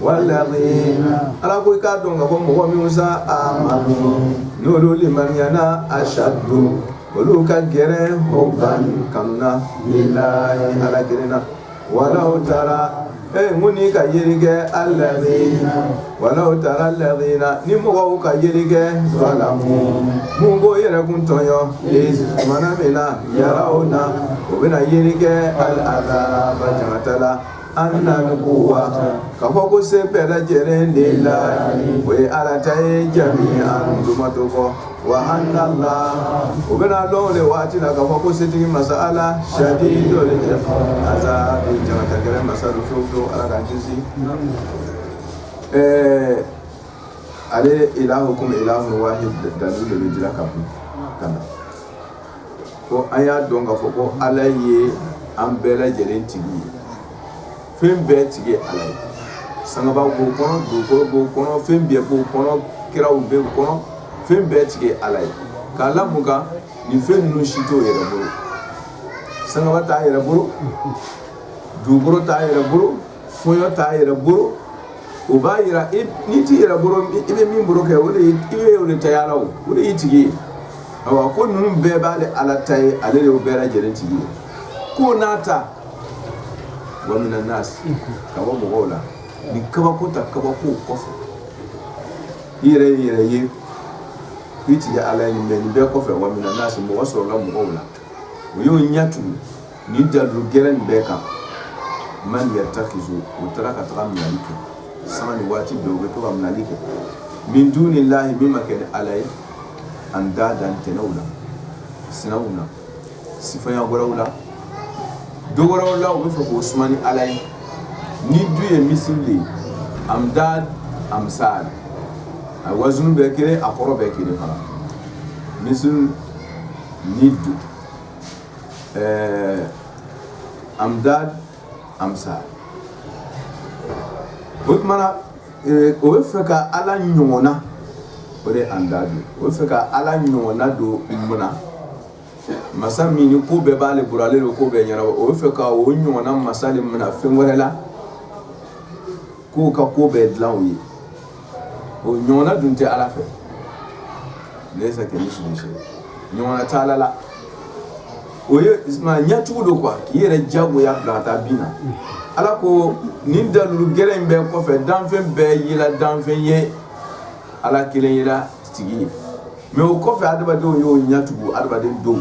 wala ala ko i k'a dɔn ka ko mɔgɔ minw sa amanu n'olu limaniyana asadu olu ka gɛlɛn huban kanu na lilahi ala gɛrɛna walaw tara e ko n'i ka yeli kɛ alazina walaw tara lazina ni mɔgɔw ka yeli kɛ zalamu minw b'o yɛrɛ kun tɔɲɔ tumana min na yarawuna o bɛna yeli kɛ alazaba jangata la Anal kuwata ka fɔ ko se bɛɛ lajɛlen lilahi o ye ala ta ye jamian tɔ ma to kɔ wa analaha o bɛn'a dɔn o waati la ka fɔ ko setigi masa ala sadidul azabi jangata gɛlɛn masa fiw don ala k'an kisi ɛɛ ale ilahukum ilahun wahidun dalu de bɛ jira ka ka na ko an y'a dɔn ka fɔ ko ala ye an bɛɛ lajɛlen tigi ye fɛn bɛɛ tigi ye ala ye sangaba b'o kɔnɔ dugukolo b'o kɔnɔ fɛn bɛɛ b'o kɔnɔ kiraw b'o kɔnɔ fɛn bɛɛ tigi ye ala ye k'a la mun kan nin fɛn ninnu si t'o yɛrɛ bolo sangaba t'a yɛrɛ bolo dugukolo t'a yɛrɛ bolo fɔɲɔ t'a yɛrɛ bolo o b'a jira n'i t'i yɛrɛ bolo i bɛ min bolo kɛ o de i bɛ o de taya la o o de y'i tigi ye awa ko ninnu bɛɛ b'ale ala ta ye ale de bɛɛ lajɛlen tigi ye ko n'a ta wa mina nasi ka bɔ mɔgɔw la ni kabako ta kabako kɔfɛ i yɛrɛ y'i yɛrɛ ye i tigi ala ye nin bɛɛ nin bɛɛ kɔfɛ wa mina nasi mɔgɔ sɔrɔla mɔgɔw la o y'o ɲɛ tugu nin dalu gɛrɛ in bɛɛ kan man yatakizu u taara ka taga minɛli kɛ sanga ni waati bɛɛ u bɛ to ka minɛli kɛ min dunilahi min ma kɛ ni ala ye andadan tɛnɛw la sinaw la sifaya wɛrɛw la dɔ wɛrɛw la u bɛ fɛ k'o suma ni ala ye nidu ye misili ye andad amsal a wazun bɛɛ kelen a kɔrɔ bɛɛ kelen fana misili nidu ɛɛ andad amsal o tuma na o bɛ fɛ ka ala ɲɔgɔnna o de andad o bɛ fɛ ka ala ɲɔgɔnna dɔ minɛ masa min ni ko bɛɛ b'ale bolo ale don ko bɛɛ ɲɛna o bɛ fɛ ka o ɲɔgɔnna masa de minɛ fɛn wɛrɛ la k'o ka ko bɛɛ dilan o ye o ɲɔgɔnna dun tɛ ala fɛ lesa kamisilihi ɲɔgɔnna tɛ ala la o ye ɲɛtugu don kuwa k'i yɛrɛ jagoya bila ka taa bin na ala ko nin dalu gɛrɛ in bɛɛ kɔfɛ danfɛn bɛɛ yela danfɛn ye ala kelen yela tigi ye mɛ o kɔfɛ adamadenw y'o ɲɛ tugu adamaden dɔw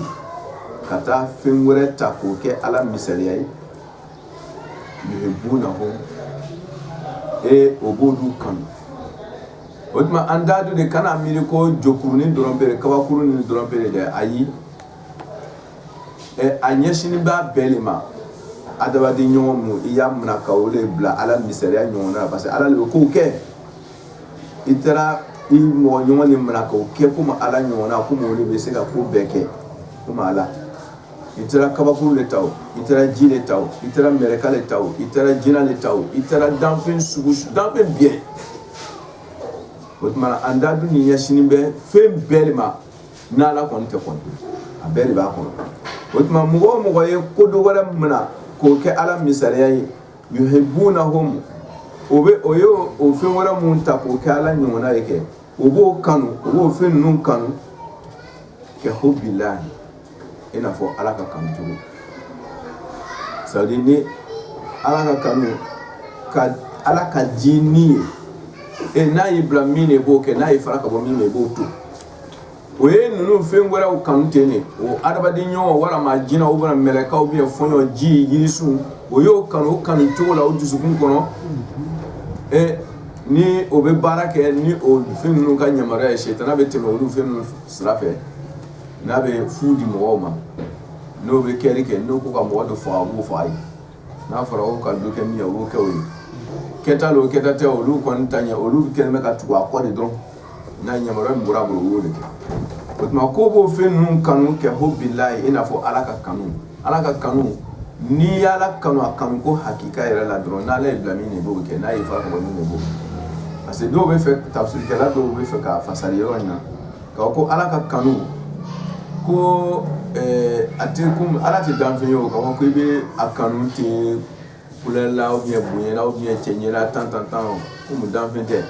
ka taa fɛn wɛrɛ ta k'o kɛ ala misaliya ye ee o b'olu kanu o tuma andadun de kana miiri ko jokurunin dɔrɔn bɛ kabakurunin dɔrɔn bɛ dɛ ayi a ɲɛsinnen b'a bɛɛ de ma adamaden ɲɔgɔn min i y'a minɛ ka o de bila Ala misaliya ɲɔgɔn na parce que Ala de bɛ ko kɛ i taara i mɔgɔ ɲɔgɔn de minɛ k'o kɛ komi Ala ɲɔgɔnna komi o de bɛ se ka ko bɛɛ kɛ komi Ala i taara kabakuru de ta i taara ji de ta i taara mɛrɛka de ta i taara jinɛ de ta i taara danfɛn sugu danfɛn bɛɛ o tuma andadun nin ɲɛsinnen bɛ fɛn bɛɛ de ma n'ala kɔni tɛ kɔni a bɛɛ de b'a kɔnɔ o tuma mɔgɔ o mɔgɔ ye ko dɔ wɛrɛ minɛ k'o kɛ ala misaliya ye yuhibbunahum o bɛ o ye o fɛn wɛrɛ mun ta k'o kɛ ala ɲɔgɔnna ye kɛ o b'o kanu o b'o fɛn ninnu kanu kahubbillahi i n'a fɔ ala ka kanu cogo ça veut dire ala ka kanu ka ala ka diyanye e n'a y'i bila min i b'o kɛ n'a y'i fara ka bɔ min i b'o to o ye ninnu fɛn wɛrɛw kanu ten de o adamaden ɲɔgɔn walima jinɛ ou bien mɛlɛka ou bien fɔɲɔ ji yirisun o y'o kanu o kanu cogo la o dusukun kɔnɔ e ni o bɛ baara kɛ ni o fɛn ninnu ka yamaruya ye setana bɛ tɛmɛ o fɛn ninnu sira fɛ n'a bɛ fu di mɔgɔw ma n'o bɛ kɛli kɛ n'u ko ka mɔgɔ dɔ faga o b'o faga a ye n'a fɔra o ka kɛ min o kɛ ye kɛta lo kɛta tɛ olu kɔni ta ɲɛ olu bɛ kɛlen bɛ ka tugu a kɔ de dɔn n'a yamaruya min bɔra o b'o de kɛ o tuma ko b'o fɛn ninnu kanu kahubbillahi i n'a fɔ ala ka kanu ala ka kanu ni ala kanu a kanu ko hakika yɛrɛ la dɔrɔn n'ale y'i bila min i b'o kɛ n'a ye fa de bɔ parce que dɔw b'a fɛ tafsirikɛla dɔw b'a fɛ k'a fasari yɔrɔ in na Ka ko ala ka kanu ko a tɛ ala tɛ danf ye o ko i bɛ a kanu tɛla bonyala ɲɛ cɛ ɲɛ tan tan tan danf tɛ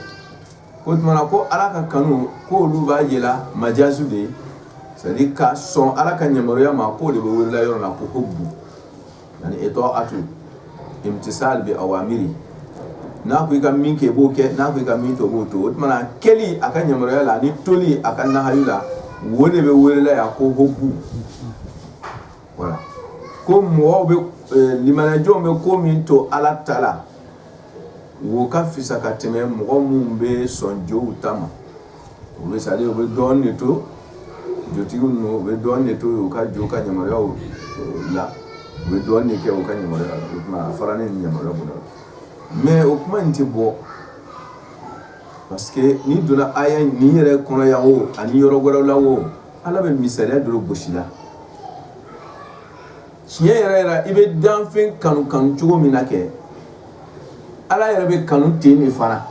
o tuma ko ala ka kanu ko olu b'a jira majaaso de ye ka sɔn ala ka yamaruya ma k' de bɛ wele yɔrɔ la ko ko bon ani itaatu imtisal bi awamiri n'a ko i ka min kɛ i b'o kɛ n'a ko i ka min to i b'o to o tuma kɛli a ka yamaruya la ani toli a ka nahayu la wo de bɛ wele yan ko hubbu voilà ko mɔgɔw bɛ e, limaniya jow bɛ ko min to ala ta la wo ka fisa ka tɛmɛ mɔgɔ minnu bɛ sɔn jow ta ma u bɛ sa u bɛ dɔn de to jotigi u bɛ dɔn de to u ka jo ka yamaruyaw la u bɛ dɔn de kɛ u ka ɲa fara ni ɲa bolo mais o kuma in tɛ bɔ parce que n'i donna aya nin yɛrɛ kɔnɔ yan o ani yɔrɔ wɛrɛ la o ala bɛ misaliya dɔ gosi la tiɲɛ yɛrɛ yɛrɛ i bɛ danfɛn kanu kanu cogo min na kɛ ala yɛrɛ bɛ kanu ten de fana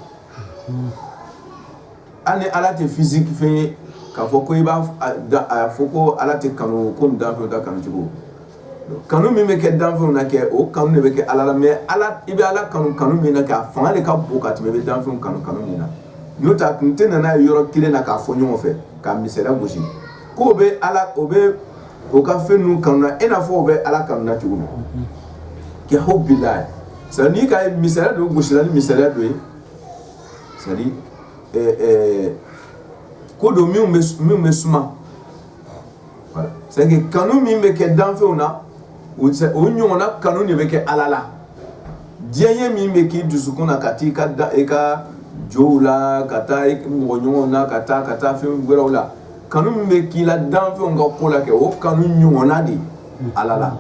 ani ala tɛ physique fɛn ye k'a fɔ ko i b'a fɔ ko ala tɛ kanu ko danfɛnw ta kanucogo kanu min bɛ kɛ danfɛnw na kɛ o kanu de bɛ kɛ ala la mais i bɛ ala kanu kanu min na kɛ a fanga de ka bon ka tɛmɛ i bɛ danfɛnw kanu kanu min na n'o tɛ a kun tɛ na n'a ye yɔrɔ kelen na k'a fɔ ɲɔgɔn fɛ k'a misaliya gosi k'o bɛ ala o bɛ o ka fɛn ninnu kanu na i n'a fɔ o bɛ ala kanu na cogo min kɛ hubbillahi c'est n'i ka misaliya dɔ gosila ni misaliya dɔ ye c'est-à-dire ko dɔ min bɛ suma kanu min bɛ kɛ danfɛnw na u ɲɔgɔnna kanu de bɛ kɛ ala la diyanye min bɛ k'i dusukun na ka i ka da i ka jo la ka taa mɔgɔ ɲɔgɔn na ka taa ka taa fɛn wɛrɛw la kanu min bɛ k'i la danfɛnw ka ko la kɛ o kanu ɲɔgɔnna de ala la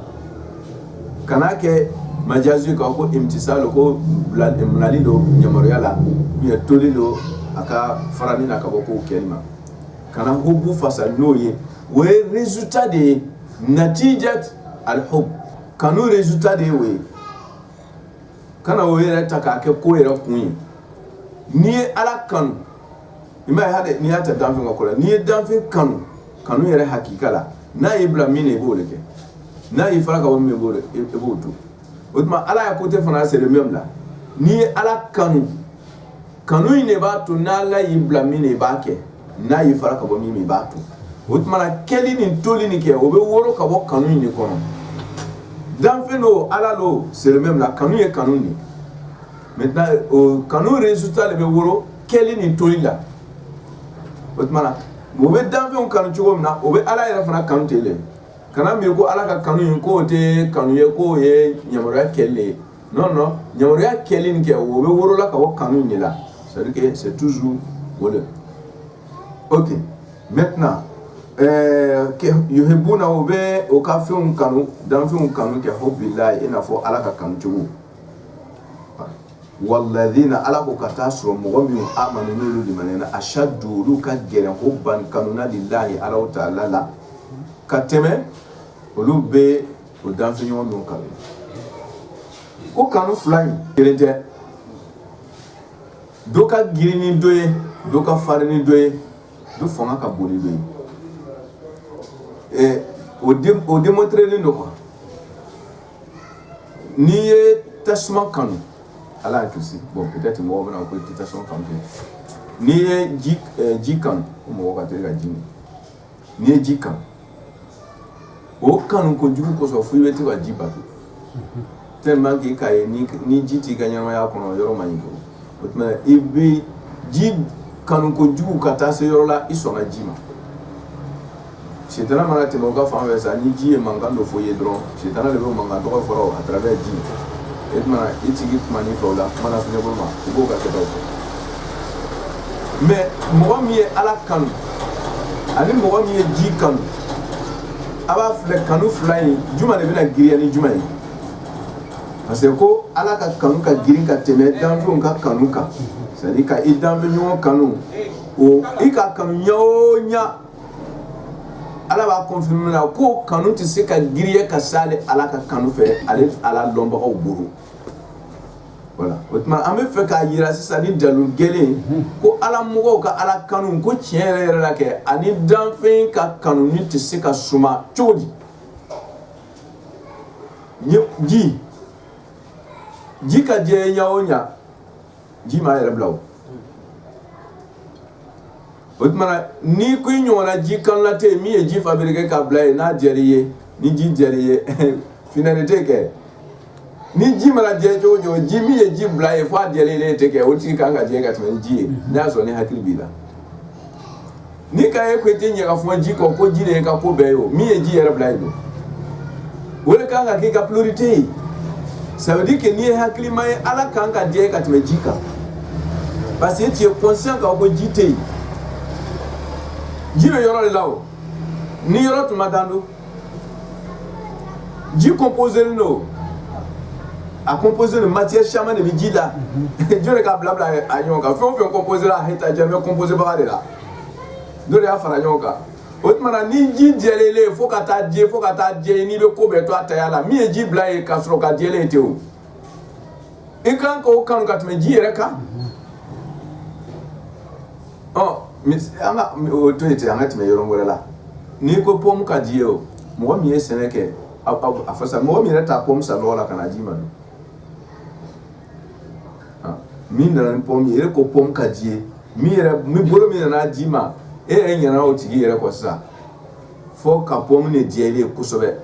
kana a kɛ majaz kan ko imtisal don ko bilali don yamaruya la u toli don a ka fara min na ka bɔ k'o kɛli ma kana hubbu fasari n'o ye o ye résultat de ye natijat al hub kanu résultat de ye o ye kana o yɛrɛ ta k'a kɛ ko yɛrɛ kun ye n'i ye ala kanu i m'a ye n'i y'a ta danfɛn ka ko la n'i ye danfɛn kanu kanu yɛrɛ hakika la n'a y'i bila min na i b'o de kɛ n'a y'i fara ka bɔ min b'o i b'o to o tuma ala ya côté fana c'est le même là n'i ye ala kanu kanu in de b'a to n'ala y'i bila min na i b'a kɛ n'a y'i fara ka bɔ min i b'a to o tuma na kɛli ni toli nin kɛ o bɛ woro ka bɔ kanu in de kɔnɔ danfɛn don ala don c'est le même là kanu ye kanu de mais kanu résultat de bɛ woro kɛli ni toli la o tuma u bɛ danfɛnw kanu cogo min na o bɛ ala yɛrɛ fana kanu ten de kana miiri ko ala ka kanu in k'o tɛ kanu ye k'o ye yamaruya kɛli ye ya kɛli nin kɛ o bɛ wolola ka bɔ kanu de la c'est toujours voilà OK maintenant yuhibbuna o bɛ o ka fɛnw kanu danfɛnw kanu kɛ hubbillahi i n'a fɔ ala ka kanucogo walladhina ala ko ka taa sɔrɔ mɔgɔ min amanu ashaddu olu ka gɛlɛn hubban kanu na lillahi ala ta'ala la ka tɛmɛ olu bɛ O danfɛn ɲɔgɔn min kanu ko kanu fila in kelen tɛ dɔ ka girin ni dɔ ye dɔ ka farin ni dɔ ye dɔ fanga ka bon ni dɔ ye o démontrélen don quoi n'i ye tasuma kanu ala y'a kisi bon peut-être mɔgɔ bɛna ko i tɛ tasuma kanu n'i ye ji kanu mɔgɔ ka teli ka ji n'i ye ji kanu o kanu kojugu kosɔn fo i bɛ to ka ji bato tellement que k'a ye ni ji t'i ka ɲɛnamaya kɔnɔ o yɔrɔ man ɲi quoi o tuma i bɛ ji kanu kojugu ka taa se yɔrɔ la i sɔnna ji ma sitanɛ mana tɛmɛ o ka fan fɛ sa ni ji ye mankan dɔ fɔ i ye dɔrɔn sitanɛ de bɛ mankan dɔ fɔ la à travers ji o tuma i tigi kuma ni fɛ la mana fi bolo ma i b'o ka kɛ mais mɔgɔ min ye ala kanu ani mɔgɔ min ye ji kanu a b'a filɛ kanu fila in jumɛn de bɛna giriya ni jumɛn ye parce que ko ala ka kanu ka girin ka tɛmɛ danfɛnw ka kanu kan c'est-à-dire ka i danfɛn ɲɔgɔn kanu o i ka kanu ɲa o ɲa Ala b'a confirmer na ko kanu tɛ se ka giriya ka s'ale ala ka kanu fɛ ale ala dɔnbagaw bolo voilà o tuma an bɛ fɛ k'a jira sisan ni dalu gɛlɛn ko ala mɔgɔw ka ala kanu ko tiɲɛ yɛrɛ yɛrɛ la kɛ ani danfɛn ka kanu nin tɛ se ka suma cogo di ji ka d'i ye ɲa o ɲa ji m'a yɛrɛ bila o tuma ni ko in ɲɔgɔnna ji kanunna ten min ye ji fabriquer k'a bila yen n'a diyara i ye ni ji diyara i ye finalité kɛ ni ji mana diya i ye cogo cogo ji min ye ji bila yen fo a diyara i ye tɛ kɛ o tigi ka kan ka diya i ye ka tɛmɛ ji ye n'a y'a sɔrɔ ni hakili b'i la n'i k'a ye ko tɛ ɲa ka fɔ ji kɔ ko ji de y'i ka ko bɛɛ ye o min ye ji yɛrɛ bila yen don o de kan ka k'i ka priorité ye ça veut dire que n'i ye hakilima ye Ala kan ka diya i ye ka tɛmɛ ji kan parce que tu es conscient k'a fɔ ko ji tɛ yen ji bɛ yɔrɔ de la o ni yɔrɔ tun ma dan don ji composélen don a composé de matière caman de bɛ ji la jɔn de k'a bilabila a ɲɔgɔn kan fɛn o fɛn composé la a hɛta jɛ bɛ composé baga de la dɔ de y'a fara ɲɔgɔn kan o tuma na ni ji diyalen i ye fo ka taa diya fo ka taa diya n'i bɛ ko bɛɛ to a taya la min ye ji bila yen ka sɔrɔ k'a diyalen i ye ten o i kan ka o kanu ka tɛmɛ ji yɛrɛ kan ɔ an ka o to yen ten an ka tɛmɛ yɔrɔ wɛrɛ la n'i ko pɔmu ka d'i ye o mɔgɔ min ye sɛnɛ kɛ a fasa mɔgɔ min yɛrɛ taa pɔmu san lɔgɔ la ka n'a d'i ma don min nana ni pomme ye e ko pomme ka d'i ye min yɛrɛ min bolo min nana d'i ma e yɛrɛ ɲina o tigi yɛrɛ kɔ sisan fo ka pomme de diya i ye kosɛbɛ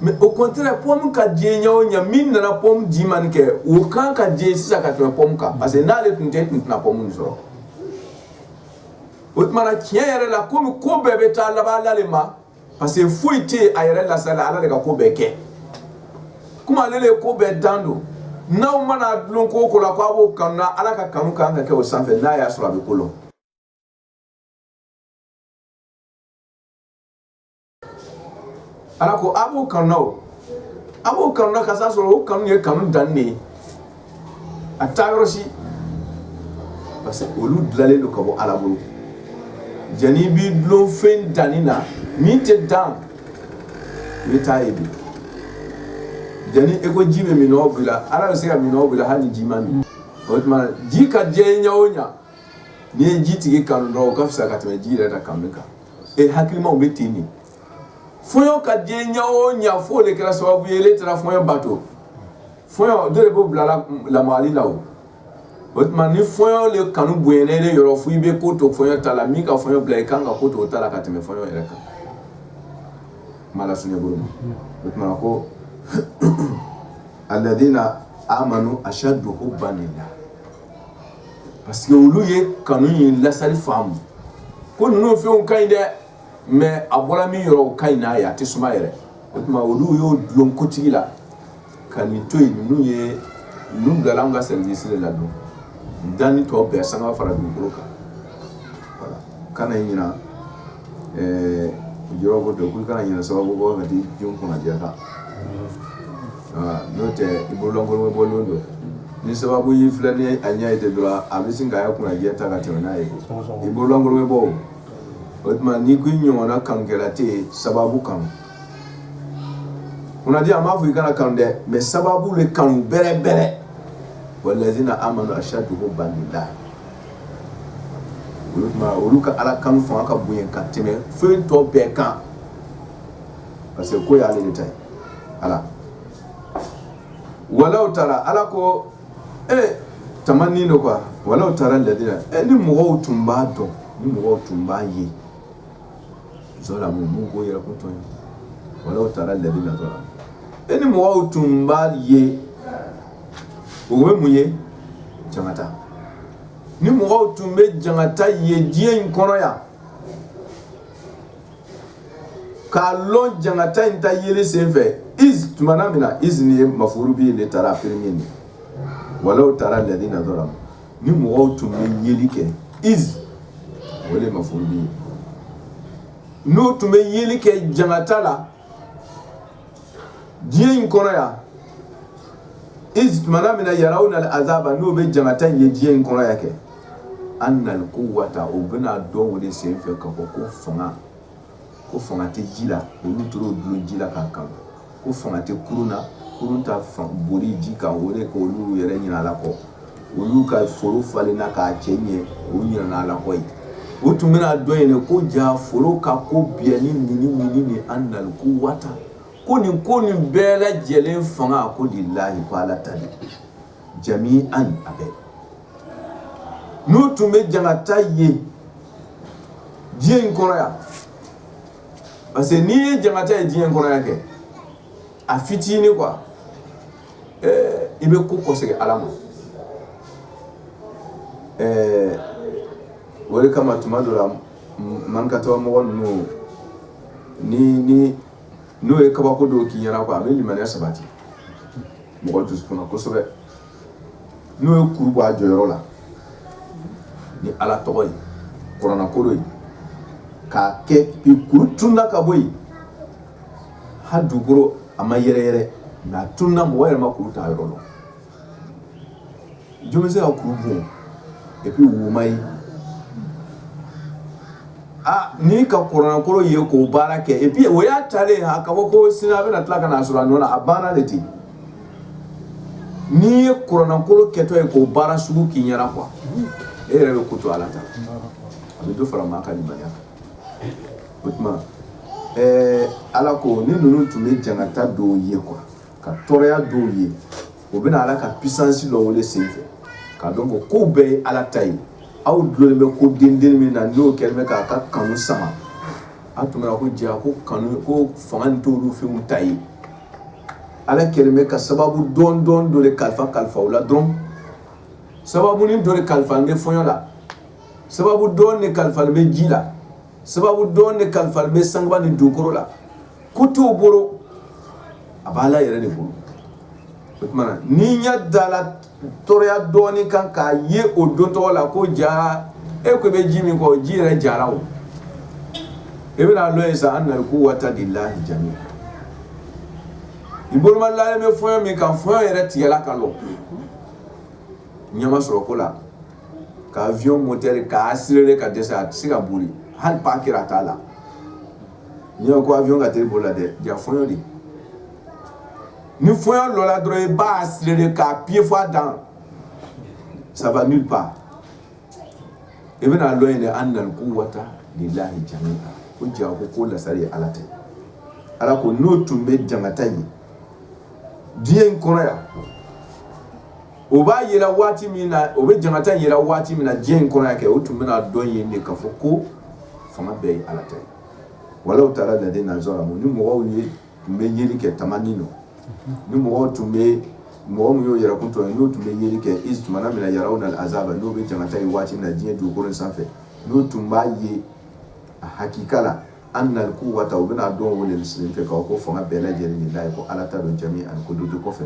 mais au contraire pomme ka d'i ye ɲɛ o ɲɛ min nana pomme d'i ma nin kɛ o kan ka d'i ye sisan ka tɛmɛ pomme kan parce que n'ale tun tɛ e tun tɛna pomme nin sɔrɔ o tuma na tiɲɛ yɛrɛ la komi ko bɛɛ bɛ taa laban ale ma parce que foyi tɛ a yɛrɛ la sa Ala de ka ko bɛɛ kɛ, comme ale de ye ko bɛɛ dan don, n'aw mana dulon ko o ko la k'a b'o kanu na Ala ka kanu ka kan ka kɛ o sanfɛ n'a y'a sɔrɔ a bɛ ko lɔn, Ala ko a b'o kanu na o, a b'o kanu na k'a sɔrɔ o kanu ye kanu dannen ye a tɛ taa yɔrɔ si parce que olu dilanlen don ka bɔ ala bolo jani i b'i dulon fɛn dannen na min tɛ dan i bɛ taa ye bi jani e ko ji bɛ minnɔgɔ b'i la ala bɛ se ka minnɔgɔ b'i la hali ni ji ma min o tuma ji ka d'i ye ɲɛ o ɲɛ n'i ye ji tigi kanu dɔrɔn o ka fisa ka tɛmɛ ji yɛrɛ da kanu kan e hakilimaw bɛ ten de fɔɲɔ ka d'i ye ɲɛ o ɲɛ f'o de kɛra sababu ye e taara fɔɲɔ bato fɔɲɔ de ko bilala lamali la o tuma ni fɔɲɔ de kanu bon ne de yɔrɔ fo i bɛ ko to fɔɲɔ ta la min ka fɔɲɔ bila i kan ka ko to ta la ka tɛmɛ fɔɲɔ yɛrɛ kan ma o tuma ko alladhina amanu ashaddu hubban lillah parce que olu ye kanu in lasali faamu ko ninnu fɛnw ka ɲi dɛ mais a bɔra min yɔrɔ ka ɲi n'a ye a tɛ suma yɛrɛ o tuma olu y'u dulon kotigi la ka nin to yen ninnu ye ninnu bila an ka service de la don danni tɔ bɛɛ san ka fara dugukolo kan kana ɲina i jɔyɔrɔ kɔ dɛ k'u kana ɲina sababu kɔ ka di jɔn kunnadiya kan n'o tɛ i bololankolon bɛ bɔ lon dɔ ni sababu y'i filɛ ni a ɲɛ ye de dɔrɔn a bɛ sin k'a ka kunnadiya ta ka tɛmɛ n'a ye i bololankolon bɛ bɔ o tuma n'i ko i ɲɔgɔnna kanukɛla tɛ yen sababu kanu kunnadiya a m'a fɔ i kana kanu dɛ mais sababu de kanu bɛrɛ bɛrɛ walladhina amanu ashaddu hubban lillah o tuma olu ka ala kanu fo a ka bonya ka tɛmɛ fɛn tɔ bɛɛ kan parce que ko y'ale de ta ye ala walaw tara ala ko ee tamanni don quoi walaw tara alladhina ɛ ni mɔgɔw tun b'a dɔn ni mɔgɔw tun b'a ye walaw tara lazina zalamu e ni mɔgɔw tun b'a ye o ye mun ye jangata ni mɔgɔw tun bɛ jangata ye diɲɛ in kɔnɔ yan k'a lɔn jangata in ta yeli sen fɛ izi tumana min na izi nin ye mafuru bi ye de tara premier nin walaw tara lazina ni mɔgɔw tun bɛ yeli kɛ izi o de mafuru bi n'o tun bɛ yeli kɛ jangata la diɲɛ in kɔnɔ yan izi tumana min na yarawna al azaba n'o bɛ jangata in ye diɲɛ in kɔnɔ yan kɛ annal kuwata u bɛna dɔn o de sen fɛ ka fɔ ko fanga ko fanga tɛ ji la olu tora dulon ji la k'a kan ko fanga tɛ kurun na kurun ta boli ji kan o de ko olu yɛrɛ ɲina ala kɔ olu ka foro falen na k'a cɛ ɲɛ o ɲinana ala kɔ ye o tun bɛna dɔn yen de ko ja foro ka ko bi ni ni ni ni annal kuwata ko nin ko ni bɛɛ lajɛlen fanga ko lilahi ko ala ta jami'an a bɛɛ n'u tun bɛ jangata ye diɲɛ in kɔnɔ yan parce que n'i ye jangata ye diɲɛ kɔnɔ yan kɛ a fitinin quoi i bɛ ko kɔsegin ala ma o de kama tuma dɔ la man ka tɔgɔ mɔgɔ ninnu ni ni n'o ye kabako dɔw k'i ɲɛna quoi a bɛ limaniya sabati mɔgɔ dusukun na kosɛbɛ n'o ye kuru bɔ a jɔyɔrɔ la ni Ala tɔgɔ ye kuranɛkolo ye k'a kɛ kuru tununa ka bɔ yen hali dugukolo a ma yɛrɛyɛrɛ mais a tununa mɔgɔ yɛrɛ ma kuru ta yɔrɔ dɔn jɔn bɛ se ka kuru bɔ et puis o ma ye Ah, ni ka kuranɛkolo ye k'o baara kɛ et puis o y'a talen a ka fɔ ko sini a bɛna tila ka na sɔrɔ a nɔ na a banna de ten N'i ye kuranɛkolo kɛtɔ ye k'o baara sugu k'i ɲɛna quoi e yɛrɛ bɛ ko to ala ta a bɛ dɔ fara maa ka limaniya kan o tuma ɛɛ ala ko ni ninnu tun bɛ jangata dɔw ye quoi ka tɔɔrɔya dɔw ye o bɛna ala ka puissance dɔn o de sen fɛ k'a dɔn ko kow bɛɛ ye ala ta ye aw dulonnen bɛ ko den min na n'o kɛlen bɛ k'a ka kanu sama a tun bɛna ko ja ko kanu ko fanga nin t'olu fɛnw ta ye ala kɛlen bɛ ka sababu dɔ dɔ dɔ de kalifa o la dɔrɔn sababu nin dɔ de kalifalen bɛ fɔɲɔ la sababu dɔ de kalifalen bɛ ji la sababu dɔ de kalifalen bɛ sangaba ni dugukolo la ko t'o bolo a b'ala yɛrɛ de bolo o tumana n'i ɲɛ dala la Tɔɔrɔya dɔɔnin kan k'a ye o don tɔgɔ la ko ja e ko bɛ ji min kɔ ji yɛrɛ jara o e bɛna dɔn yen sa annal quwwata lillahi ja i boloma lalen bɛ fɔɲɔ min kan fɔɲɔ yɛrɛ tigɛla ka lɔ ɲama sɔrɔ ko la ka avion mɔtɛri k'a accélérer ka dɛsɛ a tɛ se ka boli hali pas kelen a t'a la n'i ko avion ka teli boli la dɛ ja fɔɲɔ de ni fɔɲɔ lɔra dɔrɔn i b'a accélérer k'a appuyer fo a dan ça va nulle part i bɛna dɔn yen de annal quwwata lillahi ja ko ja ko ko lasari ye ala ta ye ala ko n'o tun bɛ jangata ye diɲɛ in kɔrɔ yan o b'a jira waati min na o bɛ jangata jira waati min na diɲɛ in kɔrɔ yan kɛ o tun bɛna dɔn yen de k'a fɔ ko fanga bɛɛ ye ala ta ye walaw tara alladhina zalamu ni mɔgɔw ye tun bɛ yeli kɛ tamanni don ni mɔgɔ tun bɛ mɔgɔ min y'o yɛrɛkun tɔɲɔ n'u tun bɛ yeli kɛ iz tuma min na yarawna al-azaba n'u bɛ jangata ye waati min na diɲɛ dugukolo sanfɛ n'u tun b'a ye a hakika la annal quwwata u bɛna'a dɔn o de senfɛ k'a fɔ ko fanga bɛɛ lajɛlen lillahi ko ala ta don jami'an ko don du kɔfɛ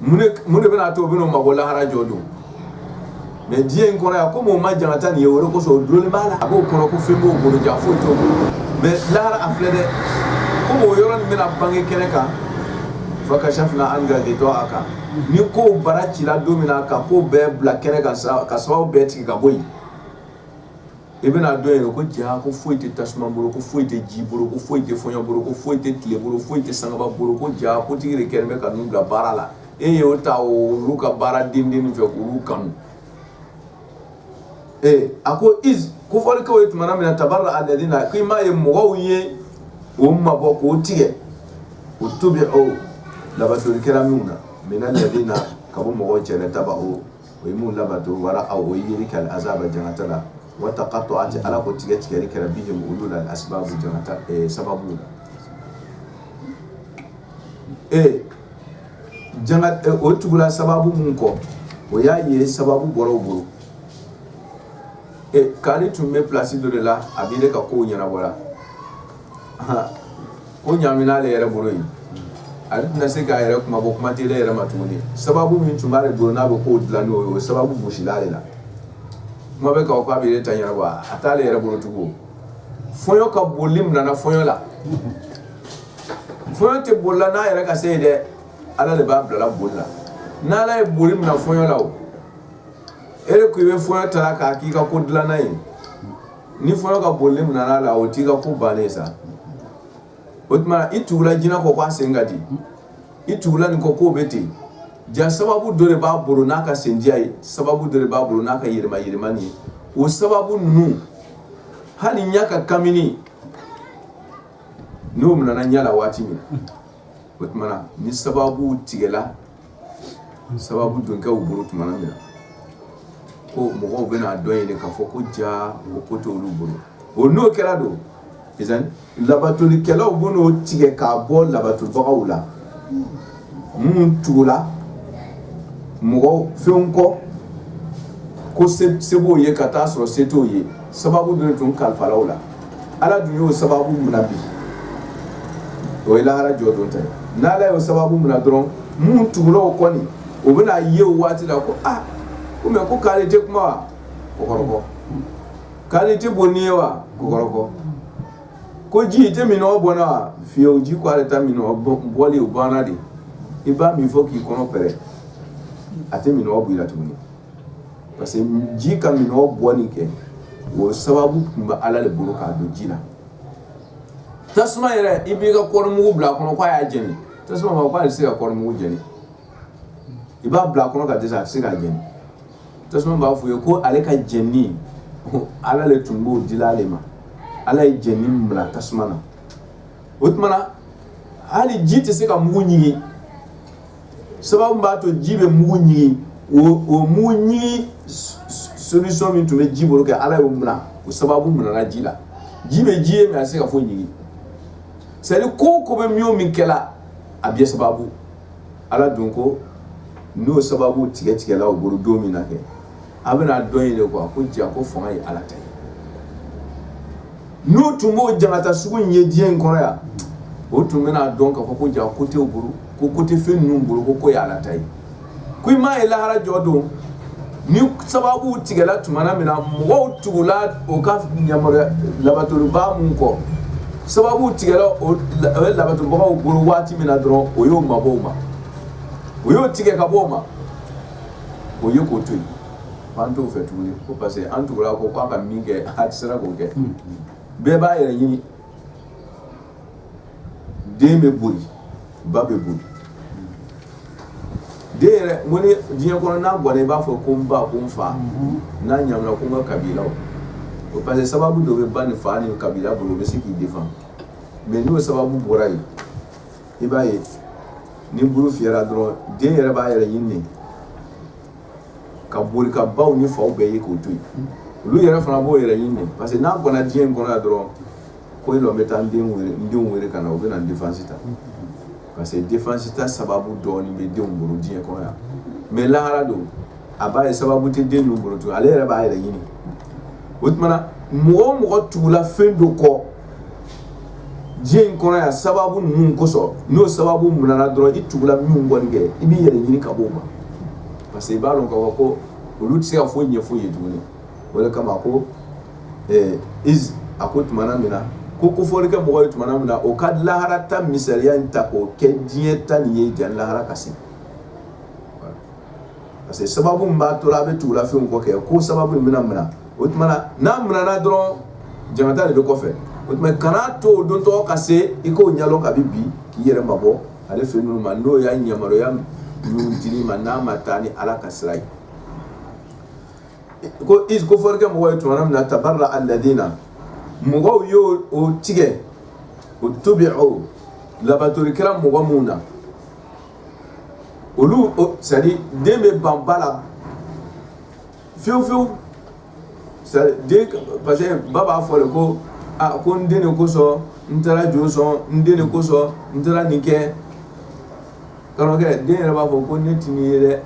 mun de bɛna'a to o bɛn'o mabɔ lahara jɔ don mɛ diɲɛ in kɔrɔ yan komi o ma jangata nin ye o de kosɔn o dulonnen b'a la a b'o kɔnɔ ko fɛn b'o bolo ja foyi t'o bolo mɛ lahara a filɛ dɛ komi o yɔrɔ nin bɛna bange kɛnɛ kan fakashafna anka ghita'aka ni ko bara cira don min na ka ko bɛɛ bila kɛnɛ kan ka sababu bɛɛ tigɛ ka bɔ yen i bɛna dɔn yen ko ja ko foyi tɛ tasuma bolo ko foyi tɛ ji bolo ko foyi tɛ fɔɲɔ bolo ko foyi tɛ tile bolo foyi tɛ sankaba bolo ko ja ko tigi de kɛlen bɛ ka bila baara la e y'o ta olu ka baara den den fɛ olu kanu ee a ko kofɔli kɛ iz tuma min na tabarra'a alladhina k' i m'a ye mɔgɔw ye o mabɔ k'o tigɛ uttubi'u labato kɛra minnu na mina ka bɔ mɔgɔw cɛ taba'u o ye mun labato wa ra'awu o ye yeli kɛ al-azaba jangata la wa taqatta'at ala ko tigɛ tigɛli kɛra bihim olu la al-asbabu sababu la ee o tugula sababu min kɔ o y'a ye sababu bɔra o bolo kari tun bɛ plasi dɔ de la a bɛ ne ka ko ɲɛnabɔ ko ɲamina ale yɛrɛ bolo yen a tɛna se k'a yɛrɛ kunmabɔ kuma tɛ ne yɛrɛ ma tuguni sababu min tun b'ale bolo n'a bɛ ko dilan n'o ye o sababu gosila ale la kuma bɛ k'a fɔ k'a b'a yɛrɛ ta ɲɛnabɔ a t'ale yɛrɛ bolo tugun fɔɲɔ ka boli minɛna fɔɲɔ la fɔɲɔ tɛ boli la n'a yɛrɛ ka se yen dɛ ala de b'a bila la boli la n'ala ye boli minɛ fɔɲɔ la o e de ko i bɛ fɔɲɔ ta k'a k'i ka ko dilannan ye ni fɔɲɔ ka boli minɛn'a la o t'i ka ko bannen sa o tuma i tugula jinɛ kɔ k'a sen ka di i tugula nin kɔ k'o bɛ ten ja sababu dɔ de b'a bolo n'a ka sendiya ye sababu dɔ de b'a bolo n'a ka yɛlɛma yɛlɛmani ye o sababu ninnu hali ɲɛ ka kamini n'o minɛna ɲɛ la waati min o tuma ni sababu tigɛla sababu don kɛ bolo tuma min na ko mɔgɔw bɛn'a dɔn yen k'a fɔ ko ja o ko t'olu bolo o n'o kɛra don labatolikɛlaw bɛn'o tigɛ k'a bɔ labatobagaw la minnu tugula mɔgɔw fɛn kɔ ko se b'o ye ka taa a sɔrɔ se t'o ye sababu dun tun kalifala u la Ala dun y'o sababu minɛ bi o ye lahara jɔdon ta ye n' ala y'o sababu minɛ dɔrɔn minnu tugula u kɔ ni u bɛna a ye o waati la ko aa ko mɛ ko k'ale tɛ kuma wa ko kɔrɔkɔ k'ale tɛ bon ni ye wa ko kɔrɔkɔ ko ji i tɛ minnɔgɔ bɔ n na wa fiyewu ji ko ale ta minnɔgɔ bɔli o banna de i b'a min fo k'i kɔnɔ pɛrɛn a tɛ minnɔgɔ bɔ i la tuguni parce que ji ka minnɔgɔ bɔni kɛ o sababu tun bɛ ala de bolo k'a don ji la tasuma yɛrɛ i b'i ka kɔɔrimugu bila a kɔnɔ k'a y'a jeni tasuma ma k'ale tɛ se ka kɔɔrimugu jeni i b'a bila a kɔnɔ ka dɛsɛ a tɛ se k'a jeni tasuma b'a fɔ i ye ko ale ka jeni ala de tun b'o di ale ma ala ye jeni bila tasuma na o tuma na hali ji tɛ se ka mugu ɲigin sababu b'a to ji bɛ mugu ɲigin o mugu ɲigin solution min tun bɛ ji bolo kɛ ala y'o minɛ o sababu minɛna ji la ji bɛ ji ye mais a tɛ se ka foyi ɲigin c'est à dire ko o ko bɛ min o min kɛla a bɛɛ sababu ala dun ko n'o sababu tigɛ tigɛla o bolo don min na kɛ a bɛna a dɔn yen de quoi ko ja ko fanga ye ala ta ye n'o tun b'o jangata sugu in ye diɲɛ in kɔnɔ yan o tun bɛn'a dɔn k'a fɔ ko ja ko t'o bolo ko ko tɛ fɛn ninnu bolo ko ko ye ala ta ye ko i m'a ye lahara jɔ don ni sababu tigɛla tuma min na mɔgɔw tugula o ka ɲamɔgɔ labatobaa min kɔ sababu tigɛla o ye labatobagaw bolo waati min na dɔrɔn o y'o mabɔ o ma o y'o tigɛ ka bɔ o ma o ye k'o to yen an t'o fɛ tuguni ko parce que an tugura a kɔ k'a ka min kɛ a tɛ sera k'o kɛ bɛɛ b'a yɛrɛ ɲini den bɛ boli ba bɛ boli den yɛrɛ ko ni diɲɛ kɔnɔ n'a bɔra i b'a fɔ ko n ba ko n fa n'a ɲamina ko n ka kabila o parce que sababu dɔ bɛ ba ni fa ni kabila bolo u bɛ se k'i défend mais n'o sababu bɔra yen i b'a ye ni buru fiyɛra dɔrɔn den yɛrɛ b'a yɛrɛ ɲini de ka boli ka baw ni faw bɛɛ ye k'o to yen olu yɛrɛ fana b'o yɛrɛ ɲini de parce que n'a bɔnna diɲɛ in kɔnɔ yan dɔrɔn ko e lɔ bɛ taa n den wele n denw wele ka na u bɛ na defansi ta parce que defansi ta sababu dɔɔnin bɛ denw bolo diɲɛ kɔnɔ yan mais lahara don a b'a ye sababu tɛ den ninnu bolo tuguni ale yɛrɛ b'a yɛrɛ ɲini o tuma na mɔgɔ o mɔgɔ tugula fɛn dɔ kɔ diɲɛ in kɔnɔ yan sababu ninnu kosɔn n'o sababu minɛna dɔrɔn i tugula min kɔ nin kɛ i b'i yɛrɛ ɲini ka b'o ma parce que i b'a dɔn k'a fɔ ko olu tɛ se ka foyi ɲɛfɔ i ye tuguni o de kama ko ɛɛ iz a ko tumana min na ko kofɔli kɛ mɔgɔ ye tumana min na o ka lahara ta misaliya in ta k'o kɛ diɲɛ ta nin ye jani lahara ka se parce que sababu min b'a to a bɛ tugula fɛnw kɔ kɛ ko sababu in bɛna minɛ o tuma na n'a minɛna dɔrɔn jangata de bɛ kɔfɛ o tuma kana to o don tɔgɔ ka se i k'o ɲɛdɔn kabi bi k'i yɛrɛ mabɔ ale fɛn ninnu ma n'o y'a yamaruya ninnu dili ma n'a ma taa ni ala ka sira ye ko iz kofɔli kɛ mɔgɔ ye tuma min na tabarra alladina mɔgɔw y'o o tigɛ utubiu labatori kɛla mɔgɔ minnu na olu c'est à dire den bɛ ban ba la fiyewu fiyewu c'est à dire den parce que ba b'a fɔ de ko a ko n den de kosɔn n taara jo sɔn n den de kosɔn n taara nin kɛ karamɔgɔkɛ den yɛrɛ b'a fɔ ko ne tɛ nin ye dɛ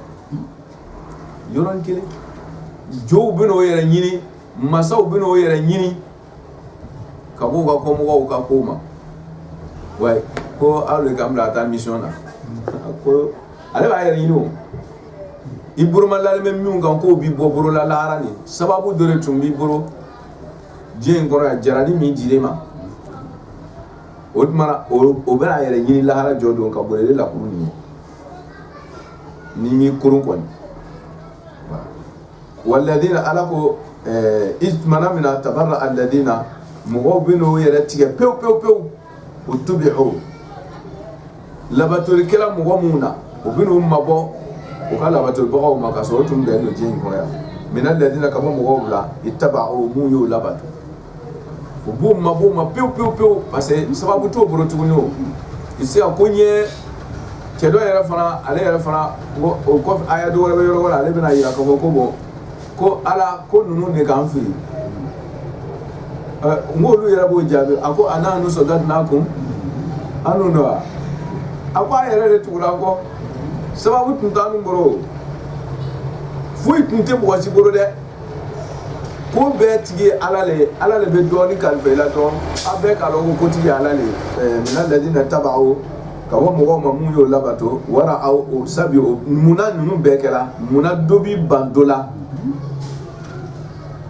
yɔrɔnin kelen jow bɛn'o yɛrɛ ɲini masaw bɛn'o yɛrɛ ɲini. ka bɔ u ka kɔmɔgɔw ka ko ma ko aw de ka bila ka taa mission na ko ale b'a yɛrɛ ɲini o i bolo madalen bɛ min kan k'o b'i bɔ bɔlɔ la lahara nin sababu dɔ tun b'i bolo diɲɛ in kɔnɔ jarani min dir'i ma o tuma o bɛna a yɛrɛ ɲini lahara jɔ don ka boli lakurunin ye ni m'i koron kɔni walladina ala ko iz tumana min na tabarra alladina mɔgɔw bɛn'o yɛrɛ tigɛ pewu pewu pewu utubiu labatori kɛla mɔgɔ minnu na u bɛn'u mabɔ u ka labatoribagaw ma ka sɔrɔ u tun bɛnnen don diɲɛ in kɔnɔ yan mina alladina ka bɔ mɔgɔw bila itabau minnu y'o labato u b'u mabɔ u ma pewu pewu pewu parce que sababu t'o bolo tuguni o i se ka ko n ye cɛ dɔ yɛrɛ fana ale yɛrɛ fana ko o kɔfɛ aya dɔ wɛrɛ bɛ yɔrɔ wɛrɛ ale bɛna yira k'a fɔ ko bon ko ala ko ninnu de k'an fili ɛ n k'olu yɛrɛ b'o jaabi a ko anahnu sadadnakum an n'u dɔn wa a ko a yɛrɛ de tugura kɔ sababu tun t'an bolo foyi tun tɛ mɔgɔ si bolo dɛ ko bɛɛ tigi ye ala le ye ala le bɛ dɔɔnin kalifa i la dɔrɔn a bɛɛ k'a dɔn ko kotigi ye ala le ye mina ladina taba'u ka bɔ mɔgɔw ma mun y'o labato wara awul azab o munna ninnu bɛɛ kɛra munna dɔ bi ban dɔ la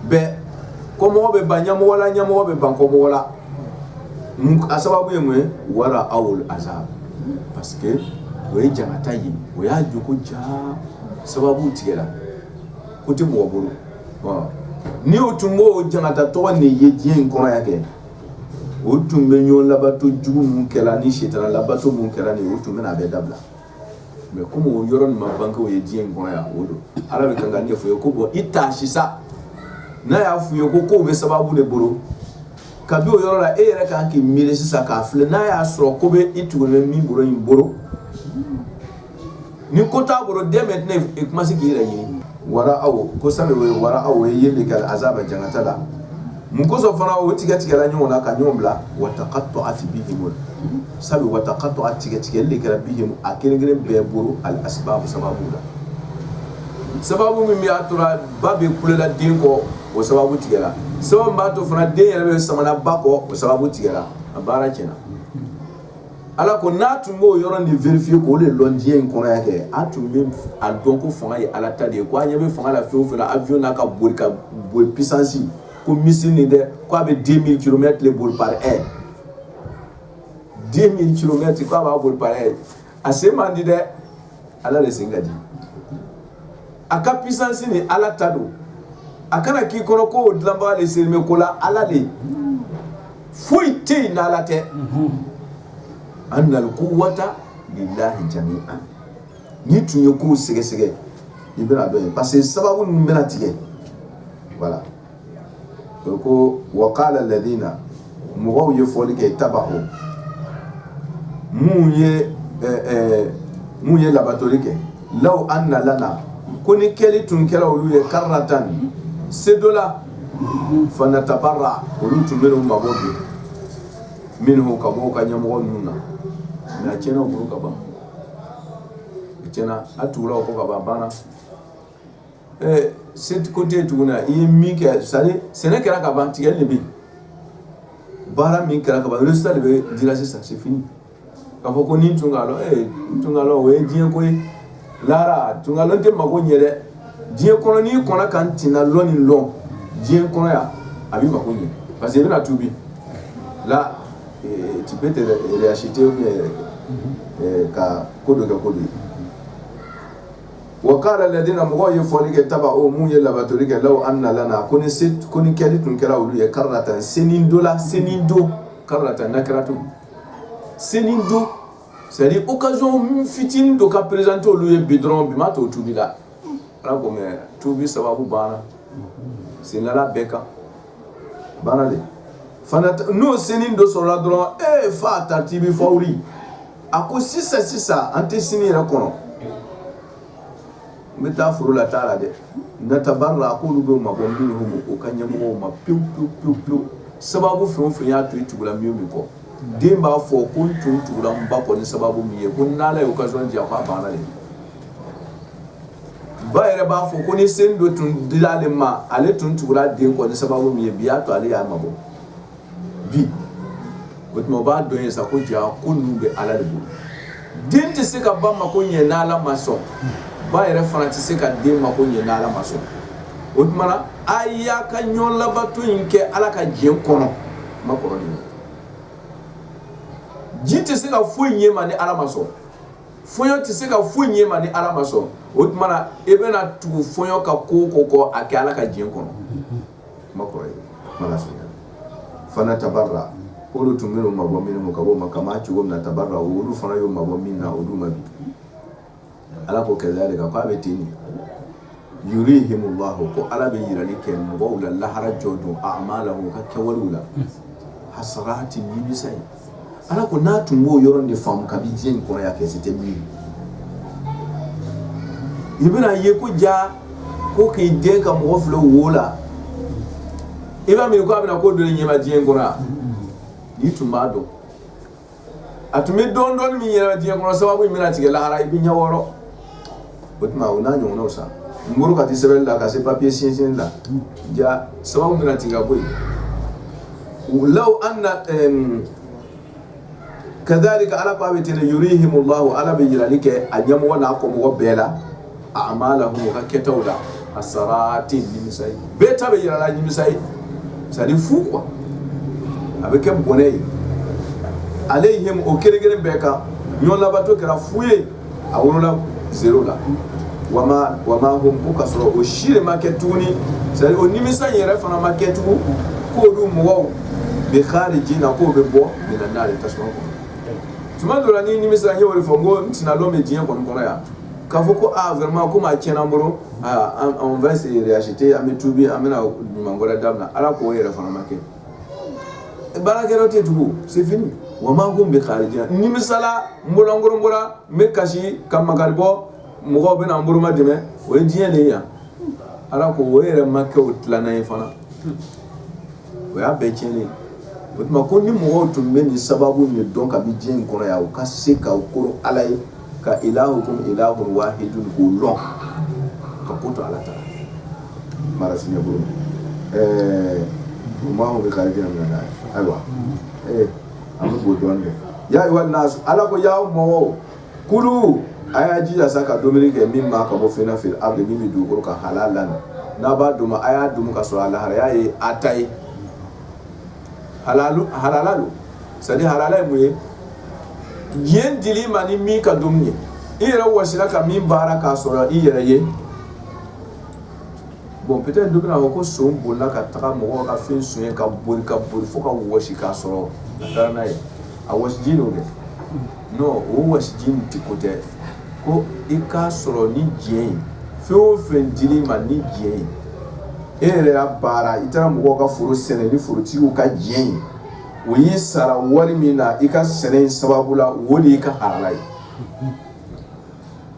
bɛɛ kɔmɔgɔ bɛ ban ɲɛmɔgɔ la ɲɛmɔgɔ bɛ ban kɔmɔgɔ la a sababu ye mun ye wara aw azab parce que o ye jangata ye o y'a dɔn ko jaa sababu tigɛra ko tɛ mɔgɔ bolo ni o tun b'o jangata tɔgɔ nin ye diɲɛ in kɔnɔ yan kɛ o tun bɛ ɲɔgɔn labato jugu minnu kɛra ni sitana labato minnu kɛra nin o tun bɛna a bɛɛ dabila mais comme o yɔrɔ nin ma bange o ye diɲɛ in kɔnɔ yan o don ala bɛ kan k'a ɲɛfɔ i ye ko bon i ta sisan n'a y'a f'u ye ko kow bɛ sababu de bolo kabi o yɔrɔ la e yɛrɛ kan k'i miiri sisan k'a filɛ n'a y'a sɔrɔ ko bɛ i tugu min bolo in bolo ni ko t'a bolo dès maintenant i kuma se k'i yɛrɛ ɲini wara awul azab o ye wara aw ye yeli kɛ azaba jangata la mun kosɔn fana o tigɛ tigɛla ɲɔgɔn na ka ɲɔgɔn bila wa taqatta'at bihimul asbab wa taqatta'at tigɛtigɛli de kɛra bihim a kelen kelen bɛɛ bolo al asbab sababu la sababu min b'a tora ba bɛ kulela den kɔ o sababu tigɛra sababu b'a to fana den yɛrɛ bɛ samana ba kɔ o sababu tigɛra a baara tiɲɛna Ala ko n'a tun b'o yɔrɔ nin vérifier k'o de lɔn diɲɛ in kɔnɔ yan kɛ a tun be a dɔn ko faŋa ye Ala ta de ye ko a' ɲɛ be faŋa la fɛn o fɛn na avion n'a ka boli ka b boli puissance ko missile nin dɛ ko a be 2000 kilomètres de boli par heure 2000 kilomètres ko a b'a boli par heure a sen man di dɛ ala de sen ka di a ka puissance nin ala ta don a kana k'i kɔnɔ ko o dilanbaga de sen bɛ ko la ala de foyi tɛ yen n'ala tɛ annal quwwata lillahi jami'an n'i tun ye kow sɛgɛsɛgɛ i bɛna dɔ ye parce que sababu ninnu bɛna tigɛ voilà o ko wa qala ladina mɔgɔw ye fɔli kɛ taba'u minnu ye minnu ye labatoli kɛ law anna lana ko ni kɛli tun kɛra olu ye karratan sekɔ la fanatabarra olu tun bɛna u mabɔ bi minhum ka bɔ u ka ɲɛmɔgɔ ninnu na nka a tiɲɛna u bolo ka ban a tiɲɛna a tugula o kɔ ka ban banna sekɔ tɛ tugun i ye min kɛ sɛnɛ kɛra ka ban tigɛli de bɛ yen baara min kɛra ka ban résultat de bɛ di sisan c'est fini k'a fɔ ko ni n tun ka lɔn o ye diɲɛ ko ye lahara n tun ka lɔn tɛ mako ɲɛ dɛ diɲɛ kɔnɔ n'i kɔnna ka n tun ka lɔn nin dɔn diɲɛ kɔnɔ yan a b'i mako ɲɛ parce que i bɛna tuubi là tu peux te racheter ka ko dɔ kɛ ko de ye wa kala ladina mɔgɔw ye fɔli kɛ tabau minnu ye labatoli kɛ law ana lana ko ni kɛli tun kɛra olu ye karatan senin dɔ la senin dɔ karatan n'a kɛra tun senin dɔ c'est-à-dire occasion fitinin dɔ ka présenter olu ye bi dɔrɔn bi b'a to tubi la ala ko mɛ tubi sababu banna sendala bɛɛ kan banna de n'o senin dɔ sɔrɔla dɔrɔn e fa tartibi fawri a ko sisan sisan an tɛ sini yɛrɛ kɔnɔ n bɛ taa foro la t'a la dɛ natabara a k'olu bɛ mabɔ minhum u ka ɲɛmɔgɔw ma pewu pewu pewu pewu sababu fɛn o fɛn y'a to i tugula min o min kɔ den b'a fɔ ko n tun tugura n ba kɔ ni sababu min ye ko n'Ala ye occasion di yan k'a banna de, ba yɛrɛ b'a fɔ ko ni senin dɔ tun dira ale ma ale tun tugura a den kɔ ni sababu min ye bi y'a to ale y'a mabɔ bi, o tuma o b'a dɔn sa ko jaa ko ninnu bɛ Ala de bolo, den tɛ se ka ba mako ɲɛ n'Ala ma sɔn, ba yɛrɛ fana tɛ se ka den mako ɲɛ n'Ala ma sɔn, o tuma na a y'a ka ɲɔgɔn labato in kɛ Ala ka jɛn kɔnɔ, n ma kɔrɔ de ye wa? ji tɛ se ka foyi ɲɛ i ma ni ala ma sɔn fɔɲɔ tɛ se ka foyi ɲɛ i ma ni ala ma sɔn o tuma na e bɛna tugu fɔɲɔ ka ko kɔ ko a kɛ ala ka jɛn kɔnɔ kuma fanatabara olu tun bɛna u mabɔ minhum ka bɔ u ma kama cogo min na tabarau olu fana y'u mabɔ mina olu ma bi Ala ko kadalika k'a bɛ ten de yurihimullahu ko ala bɛ jirali kɛ mɔgɔw la lahara jɔ don amalahum u ka kɛwale la hasaratin nimisa ye ala ko n'a tun b'o yɔrɔ de faamu k'a bɛ diɲɛ in kɔnɔ yan kɛ si tɛ bi i bɛna ye ko ja ko k'e de ka mɔgɔ filɛ wo la i ba min k'a bɛna ko dɔ ɲɛ i ma diɲɛ in kɔnɔ n'i tun b'a dɔn a tun bɛ dɔn don min yɛrɛ diɲɛ kɔnɔ sababu in bɛna tigɛ lahara i bɛ ɲɛ wɔɔrɔ o tuma u n'a ɲɔgɔnw sa muru ka di sɛbɛn la ka se papiye sinsin la ja sababu bɛna tigɛ ka bɔ yen law ana kadalika Ala ko a bɛ ten de yurihimullahu Ala bɛ jirali kɛ a ɲɛmɔgɔ n'a kɔmɔgɔ bɛɛ la amalahum u ka kɛtaw la hasaratin nimisa ye bɛɛ ta bɛ jira a la nimisa ye c'est-à-dire fu ko a bɛ kɛ bɔnɛ ye alayhim a kelen kelen bɛɛ kan ɲɔgɔn labato kɛra fu ye a wolola zéro la wama hum ka sɔrɔ o si de ma kɛ tuguni c'est-à-dire nimisa yɛrɛ fana ma kɛ tugun k'olu mɔgɔw bikarijina k'u bɛ bɔ minan nari tasuma kɔnɔ tuma dɔ la ni nimisa ye o de fɔ n ko sinadɔn bɛ diɲɛ kɔni kɔnɔ yan k'a fɔ ko aa vraiment comme a tiɲɛna an bolo aa an on va se réacheter an bɛ tuubi an bɛna ɲuman wɛrɛ daminɛ Ala k'o yɛrɛ fana ma kɛ baara kɛ yɔrɔ tɛ yen tugun c'est fini wa ma hum bi kharijina n nimisala n bololankolon bɔra n bɛ kasi ka makari bɔ mɔgɔw bɛna n boloma dɛmɛ o ye diɲɛ de ye yan Ala ko o yɛrɛ ma kɛ o tilana yen fana o y'a bɛɛ cɛn ye o tuma ko ni mɔgɔw tun bɛ nin sababu in dɔn k'a bɛ diɲɛ in kɔnɔ yan u ka se ka ko ala ye ka ilahukum ilahun wahidun o dɔn ka ko to ala ta mara bolo ɛɛ bɛ bɛ kari na ayiwa an b'o dɔn dɛ ya ayyuhan nas ala ko ya mɔ kulu a y'a jija sa ka dumuni kɛ mimma ka bɔ fɛn na fil ardi min bɛ dugukolo kan halalan n'a b'a dun a y'a dun ka sɔrɔ a lahalaya ye a ta ye halalu halala don c'est à dire halala ye mun ye diɲɛ dil'i ma ni min ka dumuni ye i yɛrɛ wɔsila ka min baara k'a sɔrɔ i yɛrɛ ye bon peut-être dɔ bɛna fɔ ko son bolila ka taga mɔgɔw ka fɛn sonya ka boli ka boli fo ka wɔsi k'a sɔrɔ a taara n'a ye a wɔsiji don dɛ o wɔsiji in tɛ ko tɛ ko i k'a sɔrɔ ni diɲɛ ye fɛn o fɛn dir'i ma ni diɲɛ ye e yɛrɛ y'a baara i taara mɔgɔ ka foro sɛnɛ ni forotigiw ka diɲɛ ye o y'i sara wari min na i ka sɛnɛ in sababu la o de y'i ka halala ye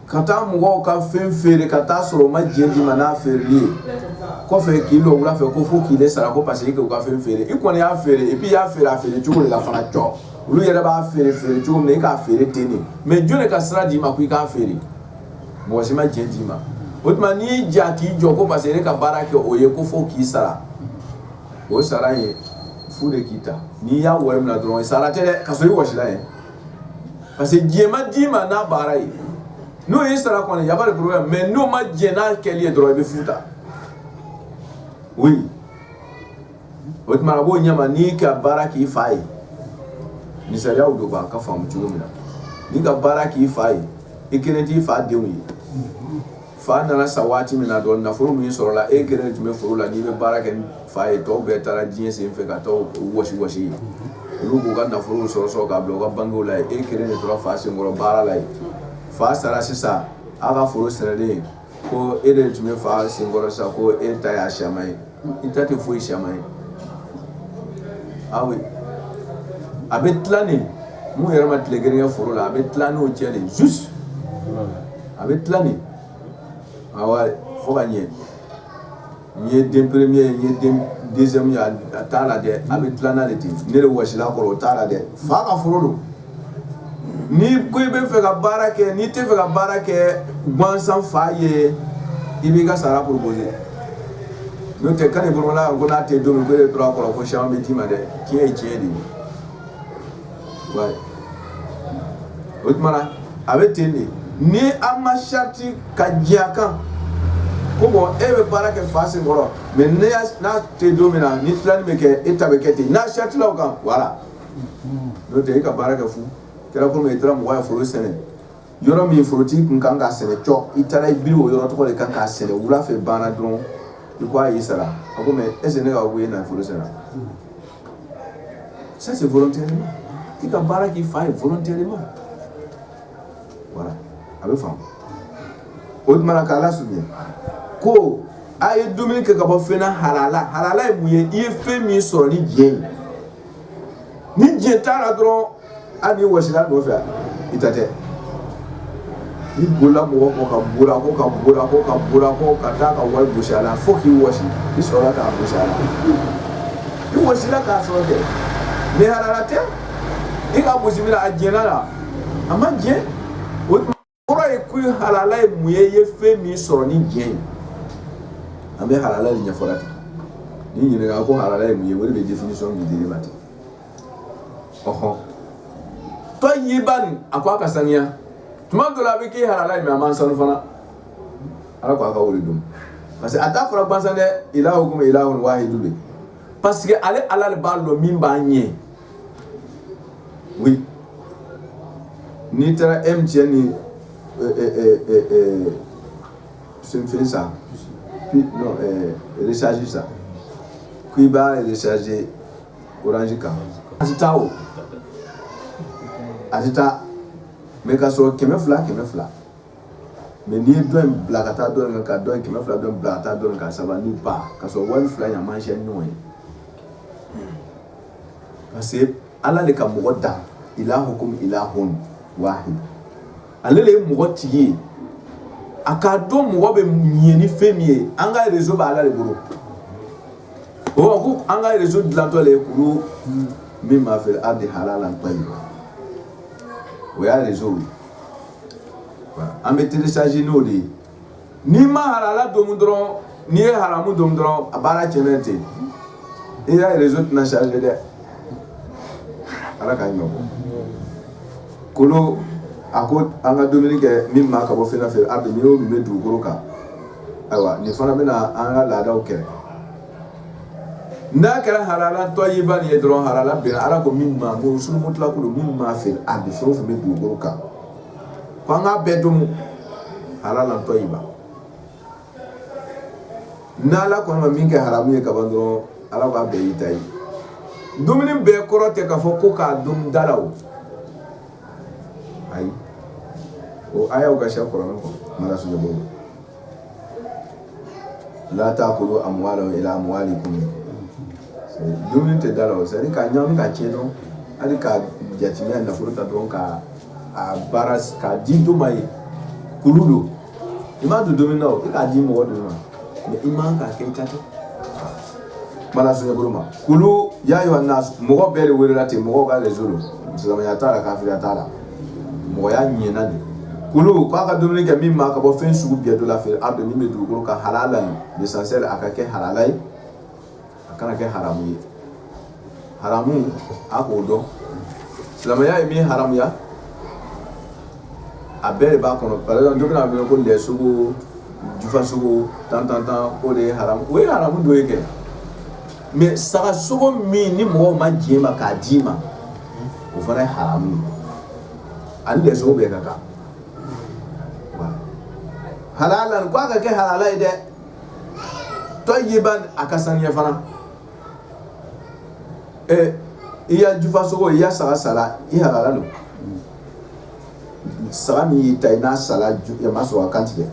ka taa mɔgɔw ka fɛn feere ka taa sɔrɔ u ma diɲɛ d'i ma n'a feereli ye kɔfɛ k'i lɔ wula fɛ ko fo k'i sara ko parce que k'u ka fɛn feere i kɔni y'a feere i y'a feere a feere cogo de la fana cɔ olu yɛrɛ b'a feere feere cogo min i k'a feere ten de mais jɔn de ka sira d'i ma ko i k'a feere mɔgɔ si ma diɲɛ d'i ma o tuma n'i y'i ja k'i jɔ ko parce que ne ka baara kɛ o ye ko fo k'i sara o sara ye fu de k'i ta n'i y'a wari minɛ dɔrɔn sara tɛ dɛ ka sɔrɔ i wɔsila ye parce que diɲɛ ma d'i ma n'a baara ye n'o y'i sara kɔni il y a pas de problème mais n'o ma diɲɛ n'a kɛli ye dɔrɔn i bɛ fu ta oui o tuma a b'o ɲɛma n'i ka baara k'i fa ye ni sariyaw dɔnbaa k'a faamu cogo min na n'i ka baara k'i fa ye i kelen t'i fa denw ye Fa nana sa waati min na dɔrɔn nafolo min sɔrɔla e kelen de tun bɛ foro la n'i bɛ baara kɛ fa ye tɔw bɛɛ taara diɲɛ sen fɛ ka taa wɔsi yen olu k'u ka nafolo sɔrɔ sɔrɔ k'a bila u ka bankiw la e kelen de tora fa senkɔrɔ baara la ye fa sara sisan a ka foro sɛnɛlen ko e de tun bɛ fa senkɔrɔ sisan ko e ta y'a siyaman ye I ta tɛ foyi siyaman ye a bɛ tila ni min yɛrɛ ma tile kelen kɛ foro la a bɛ tila n'o cɛ de juste a bɛ tila nin fo ka ɲɛ n ye den premier ye n ye den deuxième ye a t'a la dɛ a bɛ tila de ten ne de wɔsila kɔrɔ o t'a la dɛ fa ka foro don n'i ko i bɛ fɛ ka baara kɛ n'i tɛ fɛ ka baara kɛ gansan fa ye i b'i ka sara proposer n'o tɛ kan bolola ko n'a tɛ don e tora a kɔrɔ ko si bɛ d'i ma dɛ tiɲɛ ye tiɲɛ de ye o tuma a bɛ ten de ni an ma sarati ka diɲɛ kan ko e bɛ baara kɛ fa sen kɔrɔ mais n'a tɛ don min na ni tilali bɛ kɛ e ta bɛ kɛ ten n'a saratila o kan voilà tɛ e ka baara kɛ kɛra kɔmi i taara mɔgɔ foro sɛnɛ yɔrɔ min forotigi tun kan ka sɛnɛ i taara i biri o yɔrɔ tɔgɔ de kan ka sɛnɛ wula fɛ banna dɔrɔn i ko a y'i sara a est-ce ne ko e na foro sɛnɛ ça c'est volontairement i ka baara k'i fa ye volontairement a bɛ faamu o tuma k'ala su ko a ye dumuni kɛ ka bɔ fɛn na halala ye mun ye i ye fɛn min sɔrɔ ni diɲɛ ye ni diɲɛ taara dɔrɔn an wa don fɛ i ta tɛ i bolola mɔgɔ ko ka b ko ka b ko ka b ko ka taa ka wari bo la fo k'i wa i sɔrɔ k'a bo la i wasila k'a sɔrɔ kɛ mɛ ara tɛ i ka bo la a diɲɛ la a ma diɲɛ kɔrɔ ye ko halala ye mun ye i ye fɛn min sɔrɔ ni diɲɛ ye an bɛ halala de ɲɛfɔla ten n'i ɲininka ko halala ye mun ye o de bɛ définition min d'i ma ten ɔhɔn tɔyiban a ko a ka saniya tuma dɔ la a bɛ k'i halala ye mais a man sanu fana ala ko a ka o le dun parce que a t'a fɔra gansan dɛ ilahukum ilahun wahidu de parce que ale ala de b'a dɔn min b'a ɲɛ n'i taara MTN fɛnfɛn san recharge san k'i b'a recharger orange kan a tɛ taa o a tɛ taa mais ka sɔrɔ kɛmɛ fila kɛmɛ fila mais n'i ye dɔ in bila ka taa dɔ in kan ka dɔ in kɛmɛ fila dɔ in bila ka taa dɔ in kan ça va nulle part ka sɔrɔ wari fila in a man ca ni ɲɔgɔn ye parce que ala de ka mɔgɔ da ilahukum ilahun wahid ale de ye mɔgɔ tigi ye a k'a dɔn mɔgɔ bɛ ɲɛ ni fɛn min ye an ka réseau bɛ ala de bolo o ma ko an ka réseau dilantɔ de ye kulu mimma fil ardi halalan tayyiba o y'a réseau ye an bɛ télécharger n'o de ye n'i ma halala domu dɔrɔn n'i ye haramu domu dɔrɔn a bara cɛn ten i ya réseau tɛna charger dɛ ala ka ɲɔ kolon a ko an ka dumuni kɛ mimma ka bɔ fɛn na fil ardi n'i y'o min bɛ dugukolo kan ayiwa nin fana bɛna an ka laadaw kɛlɛ n'a kɛra halalan tayyiban nin ye dɔrɔn halala bɛnna ala ko mimma ko sun mutlaq lo mimma fil ardi fɛn o fɛn bɛ dugukolo kan ko an k'a bɛɛ domu halalan tayyiban n'ala kɔni ma min kɛ haramu ye kaban dɔrɔn ala k'a bɛɛ y'i ta ye dumuni bɛɛ kɔrɔ tɛ k'a fɔ ko k'a dum da la o ayi o ayaw ka siya kuranɛ kɔnɔ mara sunjata bolo la ta'kulu amwalahum ila amwalikum dumuni tɛ da la o c'est-à-dire k'a ɲagami ka tiɲɛ dɔrɔn hali ka jatimɛ nafolo ta dɔrɔn ka a baara k'a di dɔ ma ye kulu don i m'a don dumuni na i k'a di mɔgɔ dɔ ma mais i man k'a kɛ i ta tɛ Bala sunjata ma kulu ya ayyuhan nas mɔgɔ bɛɛ de welela ten mɔgɔw ka réseau lo silamɛya t'a la kafiriya t'a la mɔgɔya ɲɛna de kulu k'a ka dumuni kɛ mimma ka bɔ fɛn sugu bɛɛ dɔ la fil ardi min bɛ dugukolo kan halalan l'essentiel a ka kɛ halala ye a kana kɛ haramu ye haramu a k'o dɔn silamɛya ye min haramuya a bɛɛ de b'a kɔnɔ par exemple dɔ bɛna wele ko lɛ sogo jufa sogo tan tan tan o de ye haramu o ye haramu dɔ ye kɛ mais saga sogo min ni mɔgɔw ma diɲɛ ma k'a d'i ma o fana ye haramu ani lɛ sogo bɛɛ ka kan halalan ko a ka kɛ halala ye dɛ tayyiban a ka saniya fana i ya jufa sogo i ya saga sara i halala don saga min y'i ta ye n'a sara i m'a sɔrɔ a kan tigɛ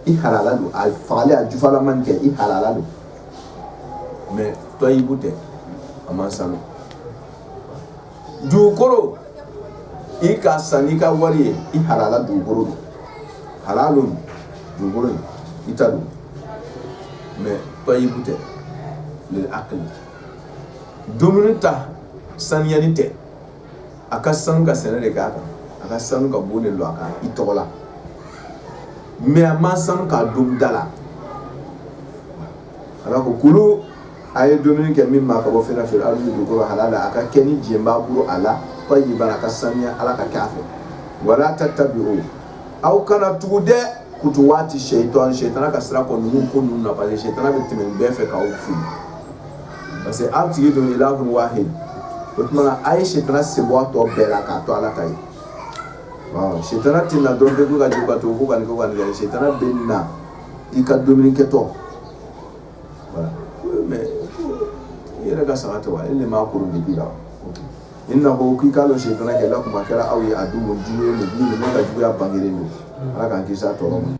i halala don a fagalen a jufalama kɛ i halala don mais tayyibu tɛ a man sanu dugukolo i k'a san i ka wari ye i halala dugukolo halala dugukolo i ta don mais tayyibu tɛ lil akli dumuni ta saniyalen tɛ a ka sanu ka sɛnɛ de k'a kan a ka sanu ka bon de lɔ a kan i tɔgɔ la mais a man sanu k'a domu da la ala ko kulu a ye dumuni kɛ mimma ka bɔ fɛn na fil ardi dugukolo halala a ka kɛ ni diɲɛ b'a bolo a la tayyiban a ka saniya ala ka kɛ a fɛ wala tattabi'u aw kana tugu dɛ kutuwati shaytan shaytan ka sira kɔnɔ ninnu ko ninnu na parce que shaytan bɛ tɛmɛ bɛɛ fɛ k'aw fili parce que aw tigi don ilahun wahid o tuma a ye shaytan sen bɔ tɔ bɛɛ la k'a to ala ta ye shaytan tɛ na dɔrɔn bɛ ka ju ka to ko ka ko ka shaytan bɛ na i ka dumuni kɛ tɔ voilà mais i yɛrɛ ka sago tɛ wa e le m'a kuru bila innahu k'i k'a dɔn siyetana kɛ lakum a kɛra aw ye aduwwun jugu ye mubin min ka juguya bangeren don ala k'an kisi a tɔɔrɔ ma